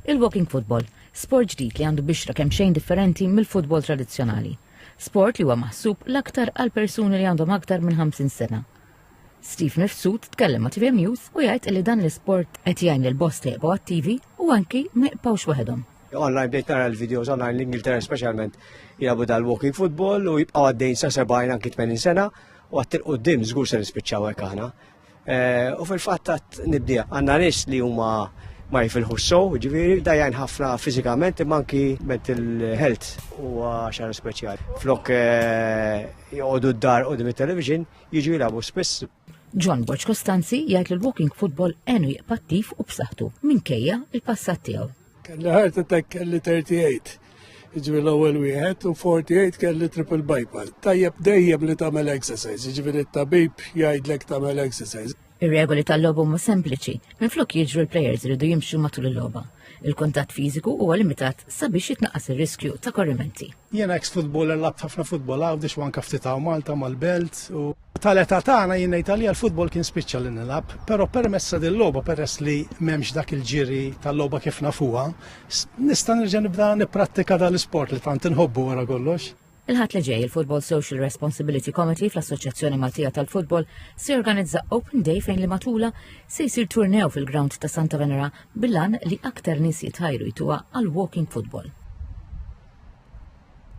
Il-walking football, sport ġdid li għandu bixra kemmxejn differenti mill-futbol tradizzjonali. Sport li huwa maħsub l-aktar għal persuni li għandhom aktar minn 50 sena. Steve Mifsud tkellem ma' TV News u jgħid li dan l-isport qed jgħin lil bost li jibgħu attivi u anki ma jibqgħux waħedhom online bdejt nara l-videos online l-Ingilterra specialment jilabu dal-walking football u jibqaw għaddejn sa 70 anki 80 sena u għattir u dim zgur se nispiċċaw hekk aħna. Eh, u fil-fatt tat nibdija għandna nies li huma ma jifilħu s-sow, ġiviri, dajjan ħafna fizikament imma anki mental health u xar speċjali. Flok eh, jgħodu d-dar u dim television jiġu jilabu spiss. John Boċ Kostanzi jgħid li l-walking football għenu jqpattif u b'saħħtu minkejja il-passat tiegħu. Kelli heart attack kelli 38. Ġifieri l-ewwel wieħed u 48 kelli triple bypass. Tajjeb dejjem li tagħmel exercise, ġifieri t-tabib jgħidlek tagħmel exercise. Ir-regoli tal-logħba huma sempliċi, minflok jiġru l-plejers iridu jimxu matul il-logħba. Il-kuntatt fiżiku huwa limitat sabiex jitnaqqas ir-riskju ta' korrimenti. Jiena ex-futboler labt ħafna futbol għawdex u anke ftit hawn Malta mal-belt u Tal-età tagħna jien ngħid għalija l-futbol kien spiċċa li nilgħab, però permezz ta' dil-logħba peress li m'hemmx dak il-ġiri tal-logħba kif nafuha, nista' nerġa' nibda nipprattika dan l-isport li tant inħobbu wara kollox. Il-Ħadd li ġej, il-Football Social Responsibility Committee fl-Assoċjazzjoni Maltija tal-Futbol se jorganizza Open Day fejn li matula se jsir turnew fil-grawnd ta' Santa Venera bil-għan li aktar nies jitħajru jtuha għall-walking football.